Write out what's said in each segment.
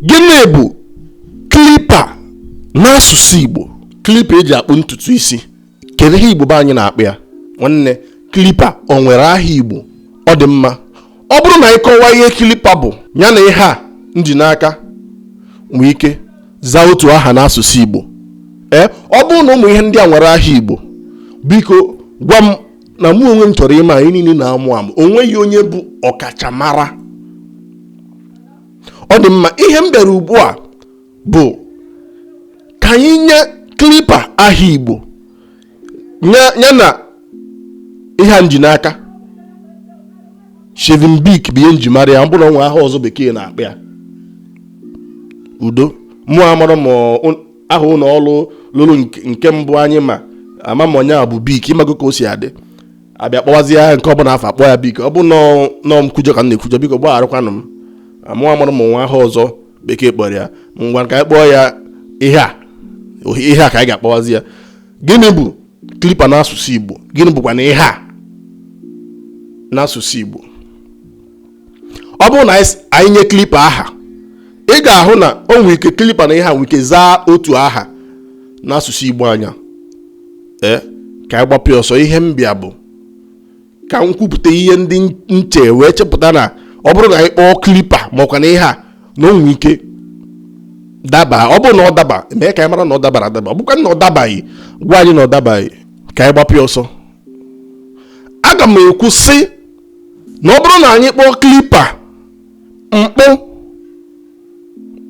Gịnị bụ klipa n'asụsụ Igbo? Klipa eji akpụ ntutu isi. Kedu ihe Igbo be anyị na-akpọ ya? Nwanne, klipa o nwere aha Igbo? Ọ dị mma. Ọ bụrụ na anyị kọwaa ihe klipa bụ, ya na ihe a m ji n'aka nwee ike zaa otu aha n'asụsụ Igbo. Ee, eh, ọ bụrụ na ụmụ ihe ndị a nwere aha Igbo, biko gwa m na mụ onwe m chọrọ ịma anyị niile na-amụ amụ. O nweghị onye bụ ọkachamara ọ dị mma ihe m bịara ugbu a bụ ka anyị nye klipa aha igbo nye- ya na ihe a m ji n'aka shaving bic bụ ihe m ji mara ya ọ bụrụ na o nwee aha ọzọ bekee na-akpọ ya udo mụ amarọ ma ọ- aha ụlọ ọrụ lụrụ nke- nke mbụ anyị ma ama nyere ya bụ bic ịmago ka o si adị a bịa kpọwazie ya nke ọbụla a fụ a kpọọ ya bic ọ bụ na ọ nkwujọ ka m na-ekwujọ biko gbagharakwanụ m mụ amarọ ma o nwee aha ọzọ bekee kpọrọ ya ngwa ka anyị kpọọ ya ihe a ihe a ka anyị ga-akpọwazi ya gịnị bụ klipa n'asụsụ Igbo gịnị bụkwanụ ihe a n'asụsụ Igbo ọ bụrụ na anyị nye klipa aha ị ga-ahụ na o nwere ike klipa na ihe a nwere ike zaa otu aha n'asụsụ igbo anya ee ka anyị gbapụ ọsọ ihe m bịa bụ ka m kwupụta ihe ndị m chee wee chepụta na ọ bụrụ na anyị kpọọ klipa ma ọkwanụ ihe a na o nwere ike daba ọ bụrụ na ọ daba mee ka anyị mara na ọ dabara adaba ọ bụkwa na ọ dabaghị gwa anyị na ọ dabaghị ka anyị gbapụ ọsọ aga m ekwu sị na ọ bụrụ na anyị kpọọ klipa mkpụ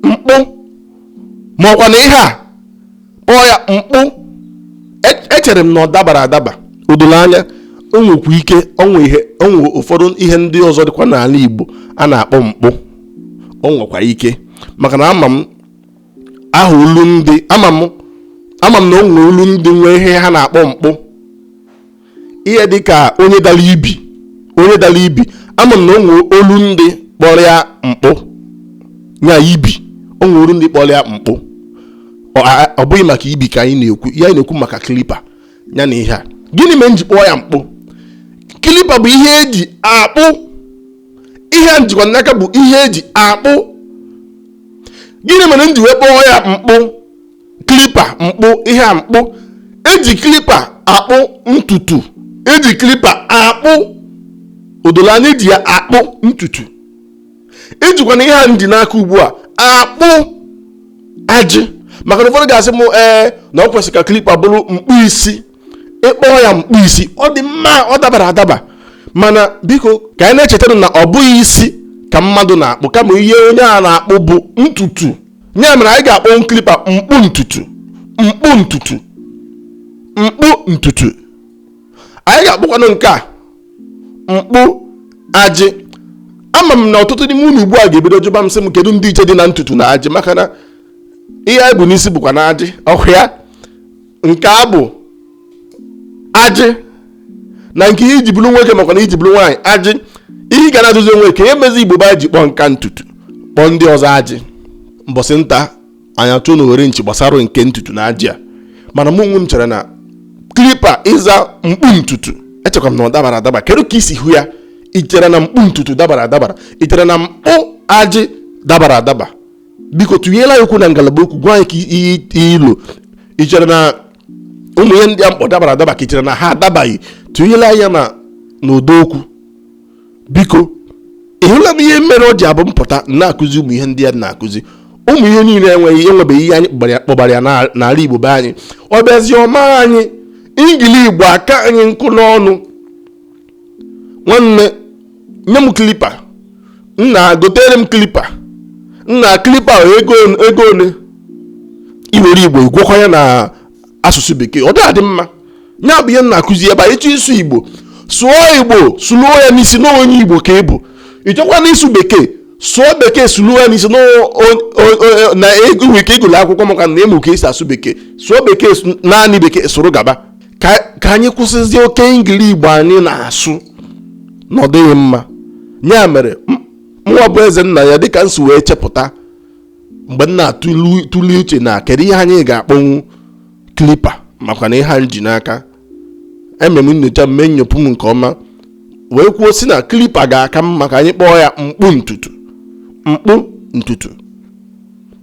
mkpụ ma ọkwanụ ihe a kpọọ ya mkpụ e- echere m na ọ dabara adaba o doro anya o nwekwa ike o nwee ihe o nwee ụfọdụ ihe ndị ọzọ dịkwa n'ala Igbo a na-akpọ mkpụ o nwekwa ike maka na ama m aha olu ndị ama m ama m na o nwere olu ndị nwee ihe ha na-akpọ mkpụ ihe dị ka onye dara ibi onye dara ibi ama m na o nwee olu ndị kpọrọ ya mkpụ ya ibi o nwee olu ndị kpọrọ ya mkpụ ọ a- ọ bụghị maka ibi ka anyị na-ekwu ya anyị na-ekwu maka kilipa ya na ihe a gịnị mere m ji kpọọ ya mkpụ kilipa bụ ihe eji akpụ ihe a m jikwa n'aka bụ ihe eji akpụ gịnị mere m ji wee kpọọ ya mkpụ klipa mkpụ ihe a mkpụ eji klipa akpụ ntutu eji klipa akpụ o dolu anya eji ya akpụ ntutu ejikwanụ ihe a m ji n'aka ugbu a akpụ ajị maka na ụfọdụ ga-asị m ee na ọ kwesịrị ka klipa bụrụ mkpụ isi ị kpọọ ya mkpụ isi ọ dị mma ọ dabara adaba mana biko ka anyị na-echetanụ na ọ bụghị isi ka mmadụ na-akpụ kama ihe onye a na-akpụ bụ ntutu ya mere anyị ga-akpọnwu klipa mkpụ ntutu mkpụ ntutu mkpụ ntutu anyị ga-akpọkwanụ nke a mkpụ ajị ama m na ọtụtụ n'ime unu ugbu a ga-ebido jụba m sị m kedu ndị iche dị na ntutu na ajị maka na ihe anyị bu n'isi bụkwanụ ajị ọhụ ya nke abụ ajị na nke ihe eji bụrụ nwoke makwa na eji bụrụ nwaanyị ajị ihe ị ga na-ajụzi onwe kee ihe mezi igbo ba ji kpọọ nke a ntutu kpọọ ndị ọzọ ajị mbọsị nta anyị achụọ na owere nchi gbasara nke ntutu na ajị a mana mụ onwe m chere na klipa ịza mkpụ ntutu echekwa m na ọ dabara adaba kedu ka i si hụ ya i chere na mkpụ ntutu dabara adaba i chere na mkpụ ajị dabara adaba biko tụnyelụ anyị okwu na ngalaba okwu gwa anyị ka ihe i lo i chere na ụmụ ihe ndị a m kpọ dabara adaba ka i chere na ha adabaghị tụnyere anyị ya n'ụdọ okwu biko ị hụla m ihe mere o ji abụ m pụta m na-akụzi ụmụ ihe ndị a m na-akụzi ụmụ ihe niile enweghị enwebeghị ihe anyị kpọbara ya n'ala Igbo be anyị ọ bịazi ọma anyị Engiligbo aka anyị nkọ n'ọnụ nwanne nye m klipa nna gotere m klipa nna klipa ego one i were igbo ị gwakọọ ya na asụsụ bekee ọ dịghị mma ya bụ ihe m na-akụzi ebe a ị chọọ ịsụ igbo sụọ igbo sụluo ya n'isi na onye igbo ka ị bụ ị chọkwanụ ịsụ bekee sụọ bekee sụluo ya n'isi na e, e, e, nwere ike ị gụlụ akwụkwọ maka na ị mụ ka esi asụ bekee sụọ bekee naanị bekee sụrụ gaba ka ka anyị kwụsịzie oke Engiligbo anyị na-asụ na ọ dịghị mma ya mere m- mụnwa bụ Ezennaya dịka m si wee chepụta mgbe m na-atụli uche na kedu ihe anyị ga-akpọnwu klipa makwa na ihe a m ji n'aka eme m nyocha mee nnyopụ m nke ọma wee kwuo sị na klipa ga-aka mma ka anyị kpọọ ya mkpụ ntutu mkpụ ntutu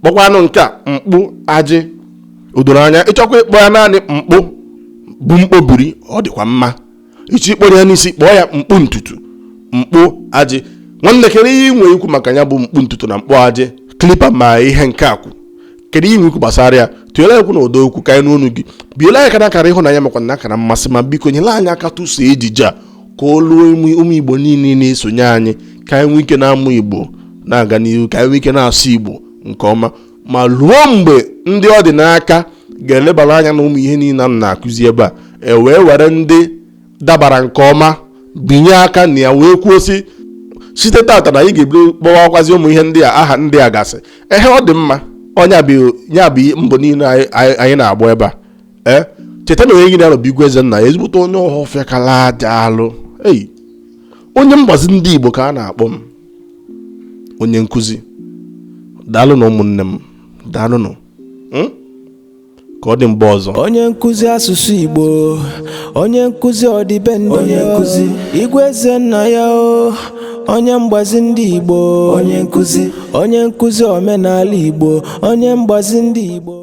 kpọkwanụ nke a mkpụ ajị o doro anya ị chọkwa ịkpọ ya naanị mkpụ bụ mkpọbiri ọ dịkwa mma ị chọọ ịkpọru ya n'isi kpọọ ya mkpụ ntutu mkpụ ajị nwanne kedu ihe ị nwere ikwu maka ya bụ mkpụ ntutu na mkpụ ajị klipa ma ihe nke a kwu kedu ihe ikwu gbasara ya tụnyere okwu na ụdọ okwu ka anyị nụ onu gị bielụ anyị aka na akara ịhụnanya makwa na akara mmasị ma biko nyere anyị aka tụsa ejije a ka o luo ụmụ igbo niile na-esonye anyị ka anyị nwee ike na-amụ igbo na-aga n'ihu ka anyị nwee ike na-asụ igbo nke ọma ma ruo mgbe ndị ọ dị n'aka ga-elebara anya na ụmụ ihe niile a na-akụzi ebe a e wee were ndị dabara nke ọma binye aka na ya wee kwuo sị site tata na anyị ga-ebido kpọwakwazi ụmụ ihe ndị a aha ndị a gasị ehe ọ dị mma ọ nya bụ mbọ niile anyị na-agba ebe a ee cheta na onye gị na ya nọ bụ igwe ezennaya ezigbote onye ọhọfịa kala aja alụ ei onye mgbazi ndị igbo ka a na-akpọ m onye nkụzi daalụnụ ụmụnne m daalụnụ Hmm? ka ọ dị mgbe ọzọ onye nkụzi asụsụ igbo onye nkụzi ọdịbendị onye nkụzi igwe ezennaya o onye mgbazi ndị igbo onye nkụzi onye nkụzi omenala igbo onye mgbazi ndị igbo